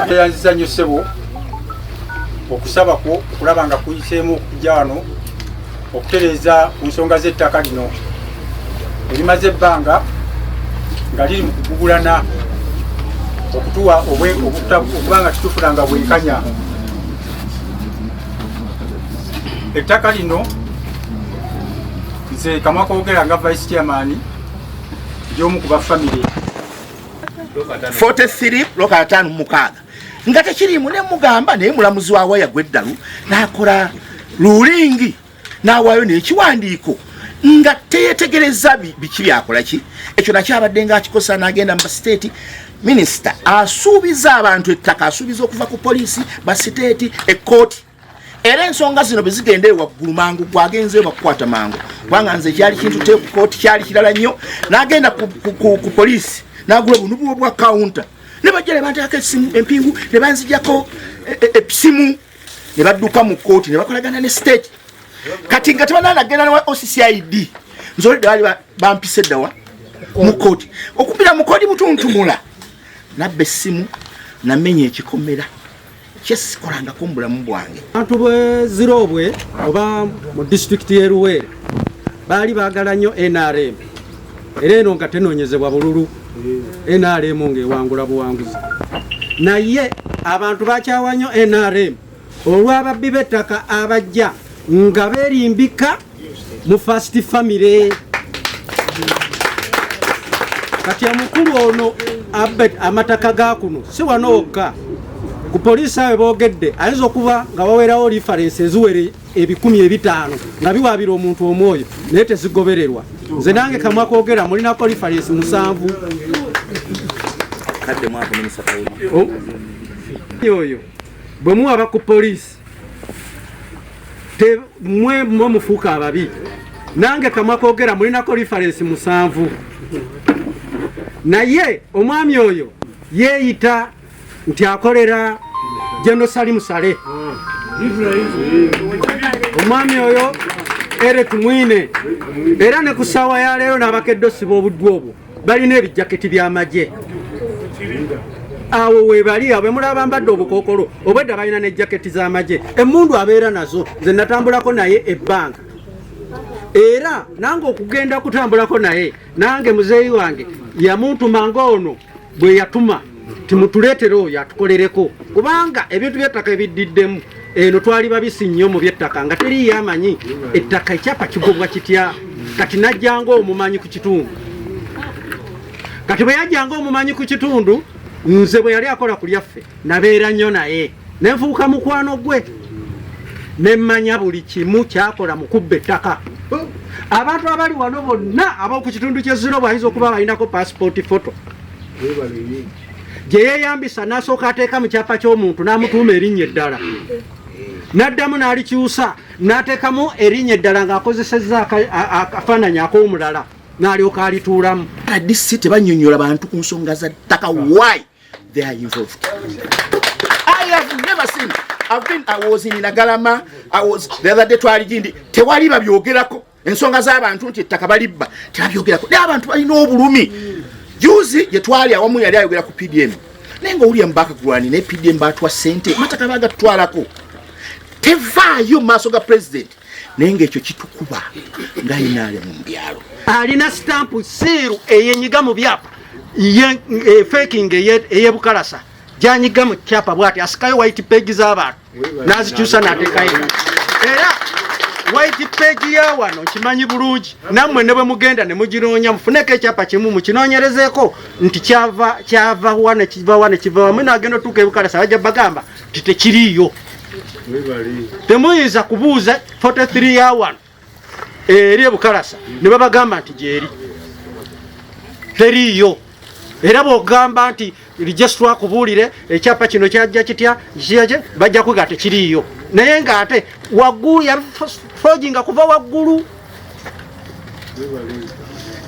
tweyanziza nnyo ssebo okusaba kwo okulaba nga kuyiseemu okujja wano okutereeza ku nsonga z'ettaka lino erimaze ebbanga nga liri mu kugugulana okutuwa okuba nga titufuna nga bwenkanya ettaka lino nze kamwa kogera nga vice chairman lyomu ku bafamire 43 lwokatano mukaaga nga tekiriimu ne mugamba naye mulamuzi wa waya gweddalu n'akola lulingi n'awaayo n'ekiwandiiko nga teyetegereza biki byakola ki ekyo nakyabadde nga akikosa n'agenda mu basiteeti minisita asuubiza abantu ettaka asuubiza okuva ku poliisi basiteeti ekkooti era ensonga zino bezigenda ewaggulu mangu gwagenze bakukwata mangu kubanga nze kyali kintu tekukooti kyali kirala nnyo nagenda ku poliisi nagula obunubuwo bwa kawunta ne bajja ne banteekako esimu empingu ne banzijako esimu e, e, ne badduka mu kkooti ne bakolagana ne state kati nga tebananagenda newa occid nzoledde baali bampisa eddawa mu kkooti okumbira mu kkooti mutuntumula nabba essimu namenya ekikomera kyesikolangako mubulamu bwange abantu bwezirobwe oba mu disitulikiti y'eruweere baali bagala nnyo nrm era eno nga tenonyezebwa bululu nrm ng'ewangula buwanguzi naye abantu bakyawa nnyo nrm olw'ababbi b'ettaka abajja nga berimbika mu first family kati omukulu ono abet amataka ga kuno si wano wokka ku poliisi awe boogedde ayinza okuba nga wawerawo lifarensi eziwere ebikumi ebitaano nga biwaabira omuntu omwoyo naye tezigobererwa nze nange kamwa kogera mulinako lifarensi musanvu oyo bwe muwaba ku poliisi te mwe mwe mufuuka ababi nange kamwa kogera mulinako referensi musanvu naye omwami oyo yeeyita nti akolera jenosali musale omwami oyo ere tumwine era ne ku ssaawa ya leero n'abakedde osiba obuddu obwo balina ebijaketi by'amagye awo webali awo bemulaba bambadde obukokolo obwedda balina ne jaketi z'amagye emmundu abeera nazo nze natambulako naye ebbanga era nange okugenda kutambulako naye nange muzeeyi wange yamuntuma ngaono bwe yatuma timutuleetera oyo atukolereko kubanga ebintu byettaka ebiddiddemu eno twali babisi nnyo mu byettaka nga teriiyo amanyi ettaka ekyapa kigobwa kitya kati najjanga omumanyi ku kitundu kati bwe yajjanga omumanyi ku kitundu nze bwe yali akola ku lyaffe nabeera nnyo naye ne nfuuka mukwano gwe ne mmanya buli kimu kyakola mu kubba ettaka abantu abali wano bonna ab'oku kitundu ky'ezziro bayinza okuba balinako paasipooti foto gye yeeyambisa n'asooka ateeka mu kyapa ky'omuntu n'amutuuma erinnya eddala n'addamu n'alikyusa n'ateekamu erinnya eddala ng'akozesezza akafaananyi ak'omulala n'alyoka alituulamu adc tebanyonyola bantu ku nsonga za ttaka why They are involved. I have never seen. I've been, I was in Nagalama, I was, the other day twali jindi, tewali babyogerako. Ensonga z'abantu nti ettaka balibba, tebabyogerako. Naye abantu balina obulumi. Juzi gye twali awamu yali ayogera ku PDM. Naye nga William Bakagulwani ne PDM baatwa ssente, amataka baagatutwalako. Tevaayo mu maaso ga pulezidenti. naye ngaekyo kitukuba nga inaale mu byalo alina sitampu siiru eyenyiga mu byapa e, feking eyebukalasa janyiga mu kyapa bwati asikayo white page zabantu nazikyusa natekayo era white page ya wano kimanyi bulungi nammwe ne bwe mugenda ne muginoonya mufuneko ekyapa kimu mukinoonyerezeeko nti kyava kyava wa ne kiva wa ne kiva wamu naagenda otuuka ebukalasa bajja bagamba titekiriiyo temuyinza kubuuza 43 ya wano eri ebukalasa ne babagamba nti gyeri teriiyo era bwogamba nti lijesitwa akubuulire ekyapa kino kyajja kitya kiyaki bajja kwiga tekiriiyo naye ngaate waggulu yafoginga kuva waggulu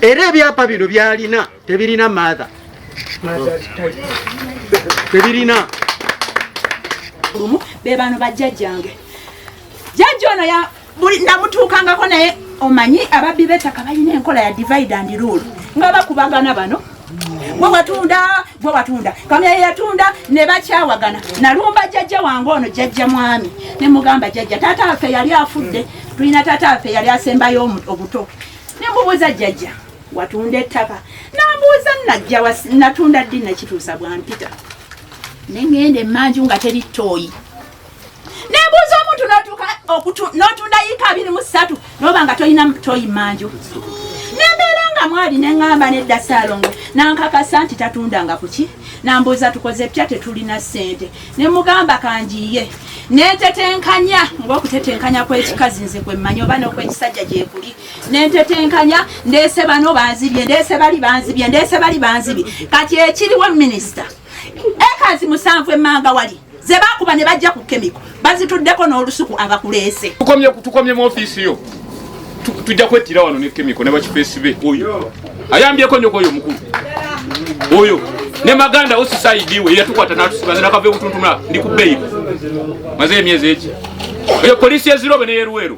era ebyapa bino byalina tebirina maatha tebirina lumu bebano bajjajjange jajja ono ya buli namutuukangako naye omanyi ababbi betaka balina enkola ya divide and rule nga bakubagana bano gwe watunda gwe watunda kamya yatunda ne bakyawagana nalumba jajja wange ono jajja mwami ne mugamba jajja taata waffe yali afudde tulina taata waffe yali asembayo obuto ne mubuuza jajja watunda ettaka nambuuza najja natunda ddi nakituusa bwampita nengenda emanju nga teri toyi nembuuza omuntu notuka notunda yiika abiri mu ssatu noba nga tolina toyi manju nembeera nga mwali nengamba nedda saalongo nankakasa nti tatundanga kuki nambuuza tukoze pya tetulina ssente nemugamba kanjiye netetenkanya ngaokutetenkanya kwekikazi nze kwemmanyi oba nokwekisajja gyekuli nentetenkanya ndese bano banzibye ndese bali banzibye ndese bali banzibye kati ekiriwo minisita ekazi musanvu emmanga wali ze bakuba ne bajja ku kemiko bazituddeko n'olusuku abakuleese tukomye mu ofiisi yo tujja kwettira wano ne kemiko ne bakifeesi be oyo ayambyeko nyoko oyo mukulu oyo ne maganda osisaidiwe yatukwata natusibaza nakava ebutuntuma ndi ku beyiro maze emyezi eki eyo polisi ezirobe neyeruweru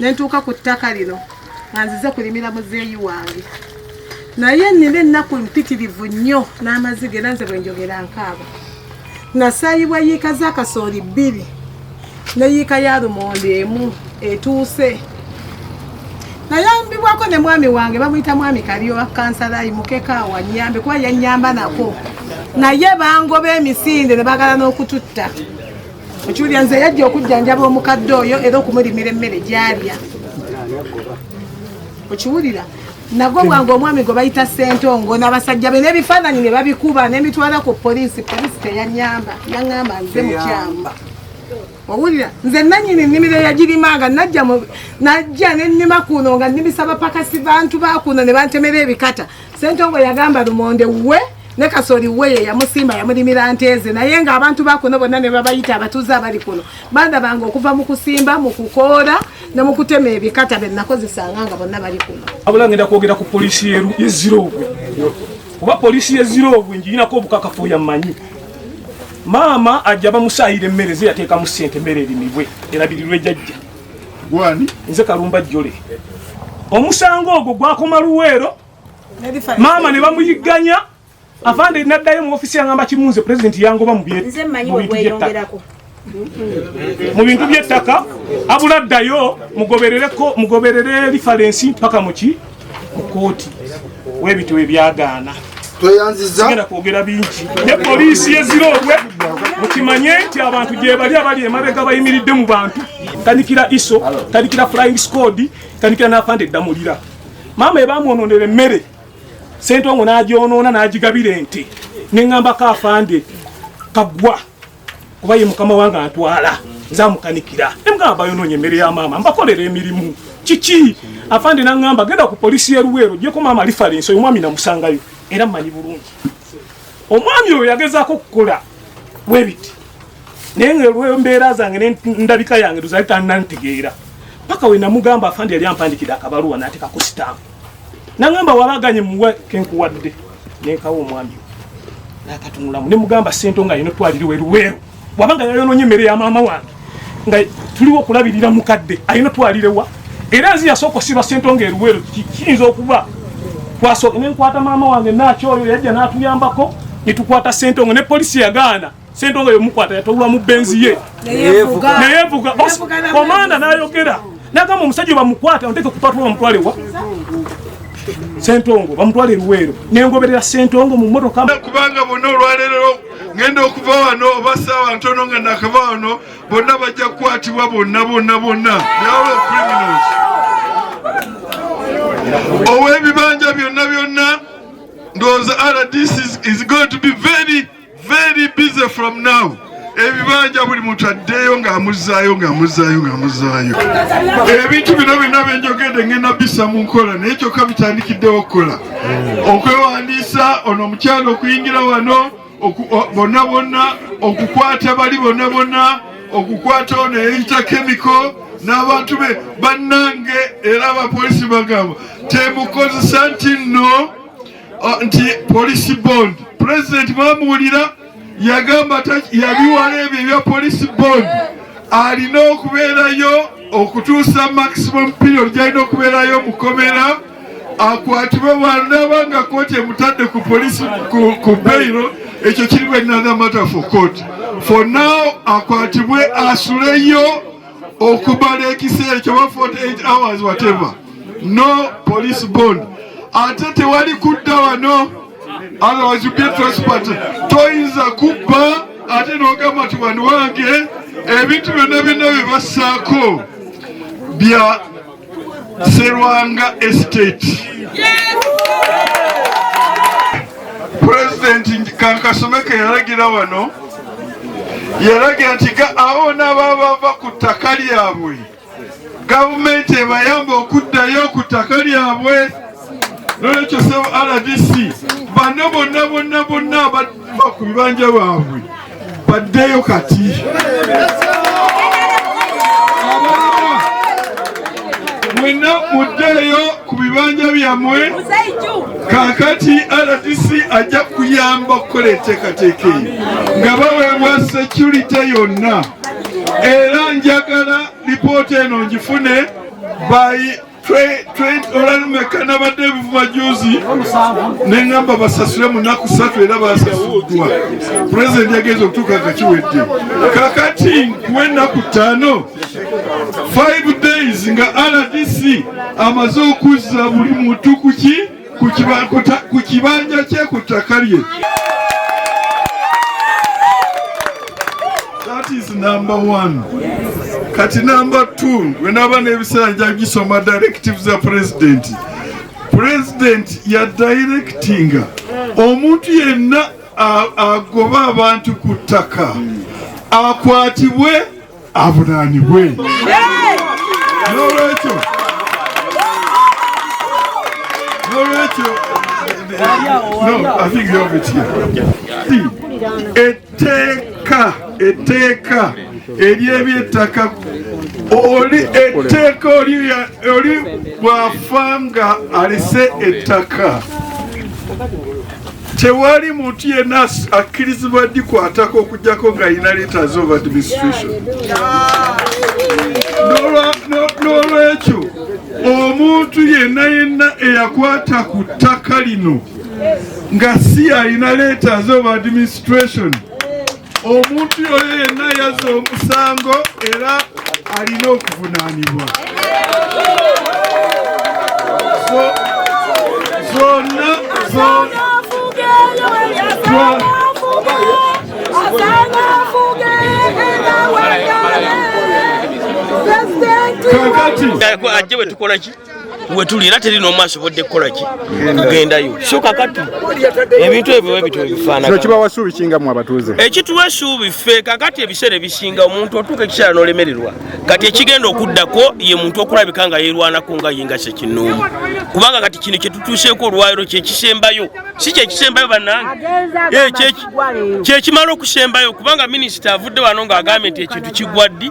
nentuuka ku ttaka lino nga nzize kulimira muzeeyi wange naye nina ennaku mpitirivu nnyo n'amaziga era nze bwenjogera nkaaba nasaayibwa yiika z'akasooli bbiri ne yiika ya lumonde emu etuuse nayambibwako ne mwami wange bamuyita mwami kalyowa kansalayi mukekaawa nyambe kuba yanyamba nako naye bangoba emisinde ne bagala n'okututta okiwulira nze yajja okujjanjaba omukadde oyo era okumulimira emmere gyalya okiwulira nagwo bwange omwami gwe bayita sentongo n'abasajja be n'ebifaananyi ne babikuba nemitwala ku poliisi poliisi teyanyamba yaŋamba nze mukyamu owulira nze nanyini nnimiro yagirimanga najja najja nennima kuno nga nnimisaba pakasi bantu bakuno ne bantemera ebikata sentongo yagamba lumonde wuwe ne kasoli we ye yamusimba yamulimira nte ze naye ng'abantu ba kuno bonna ne babayita abatuuze abali kuno bandabanga okuva mu kusimba mu kukoola ne mu kutema ebikata be nakozesanga nga bonna bali kuno abula ngenda kwogera ku poliisi yeziroogwe kuba poliisi yeziroogwe ngirinako obukakafu oyo ammanyi maama ajja bamusaayira emmere ze yateekamu ssente emmere erimibwe erabirirwe jajja gwani nze kalumba jjole omusango ogwo gwakoma luweero maama ne bamuyigganya afande naddayo mu ofisi yangamba kimunze pulezidenti yangoba mu bintu byettaka mu bintu byettaka abula ddayo mugoberere lifalensi mpaka muki mu kooti webityo webyagaana tweyanzizagenda kwogera bingi ne poliisi yeziroobwe mukimanye nti abantu gyebali abali emabega bayimiridde mu bantu tandikira iso tandikira flying squad tandikira nafande ddamulira maama ebamwononera emmere sentongo nagyonoona nagigabira ente neŋambako afande kagwa kuba ye mukama wange antwala nzamukanikira emugamba bayononye emmere ya maama mbakolera emirimu kiki afande naŋamba genda ku polisi yeruweero jeko maama lifalensi oyo mwami namusangayo era mmanyi bulungi omwami oyo yagezaako okukola webiti naye nga olwembeera zange nendabika yange luzali tanantegeera paka wenamugamba afandi yali ampandikide akabaluwa nateka ku sitampu nagamba wabaganye muwe kenkuwadde nenkawo omwami nakatunulamu nemugamba sente nga yino twaliriwe luweero wabanga yayononye emmere ya maama wange nga tuliwo okulabirira mukadde ayina twalirewa era nzi yasooka osiba sente nga eruweero kiyinza okuba nenkwata maama wange nakyoyo yajja natuyambako netukwata sente nga ne polisi yagaana Sentongo yomukwata yatawula mu benzi ye neyevuga komanda nayogera nagamba omusajja bamukwata onteke kupatula bamutwale wa sentongo bamutwale eruweero nengoberera sentongo mu motoka kubanga bonna olwaleero ngenda okuva wano oba saawa ntono nga nakava wano bonna bajja kukwatibwa bonna bonna bonna byawula criminals ow'ebibanja byonna byonna ndowooza rdc is going to be very Very busy from now. ebibanja buli muntu addeeyo ng'amuzzaayo ng'amuzzaayo ng'amuzzaayo ebintu bino byonna byenjogedde ngenda bisa mu nkola naye kyokka bitandikiddewo okukola okwewandiisa ono omukyalo okuyingira wano bonna bonna okukwata bali bonna bonna okukwata ono eyeyita kemiko n'abantu be bannange era abapolisi bagamba temukozesa nti nno ah, nti police bond president mwamuwulira yagamba yabiwala ebyo ebya police bond alina okubeerayo okutuusa maximum period gyalina okubeerayo mukomera akwatibwe bwanaba nga kooti emutadde ku polisi ku beiro ekyo kirimu another matter for court for now akwatibwe asuleyo okumala ekiseera kyoba 48 hours whatever no police bond ate tewali kudda wano otherwise you be transport toyinza kubba ate nogamba ti wani wange ebintu byonna byonna bye bassaako bya Serwanga Estate. Pulezidenti Kankasomeke yalagira wano yalagira nti awo n'ababa bava ku ttaka lyabwe gavumenti ebayamba okuddayo ku ttaka lyabwe nolwekyo sebo rdc bano bonna bonna bonna abava ku bibanja bwabwe baddeyo kati mwenna muddeeyo ku bibanja byammwe kakati rdc ajja kuyamba okukola enteekateeka eyo nga baweebwa securite yonna era njagala lipoota eno ngifune by olwalumeka nabadde ebivuma juzi neŋamba basasule mu nnaku ssatu era basasuddwa pulezidenti yagenza okutuuka nga kiwedde kakati nkuwa ennaku ttaano 5 days nga rdc amaze okuzza buli muntu kuki ku kibanja kye ku ttaka lye that is number one kati number two wenaba n'ebiseera nja gisoma directive za president president ya directinga omuntu yenna agoba abantu ku ttaka akwatibwe avunaanibwe n'olwekyo n'olwekyo etteeka etteeka ery'ebyettaka oli etteeka oli bw'afa nga alese ettaka Tewali muntu yenna akkirizibwa dikwatako okujjako nga alina letters of administration. N'olwekyo omuntu yenna yenna eyakwata ku ttaka lino nga si alina letters of administration omuntu yoyo yenna yazza omusango era alina okuvunaanibwa zonna zonna kakati ajje bwe tukolaki wetuli era teri nomu asobodde kukolaki kugendayo so kakati ebintu ebyo webityo webifaanakinokibawa suubi kinga mu abatuuze ekituwa esuubi ffe kakati ebiseera ebisinga omuntu otuuka ekiseera nolemererwa kati ekigenda okuddako ye muntu okulabika nga yerwanako nga ye nga sekinoomu kubanga kati kino kyetutuuseeko olwaliro kyekisembayo si kyekisembayo banange kyekimala okusembayo kubanga minisita avudde wano ng'agambye nti ekintu kigwa ddi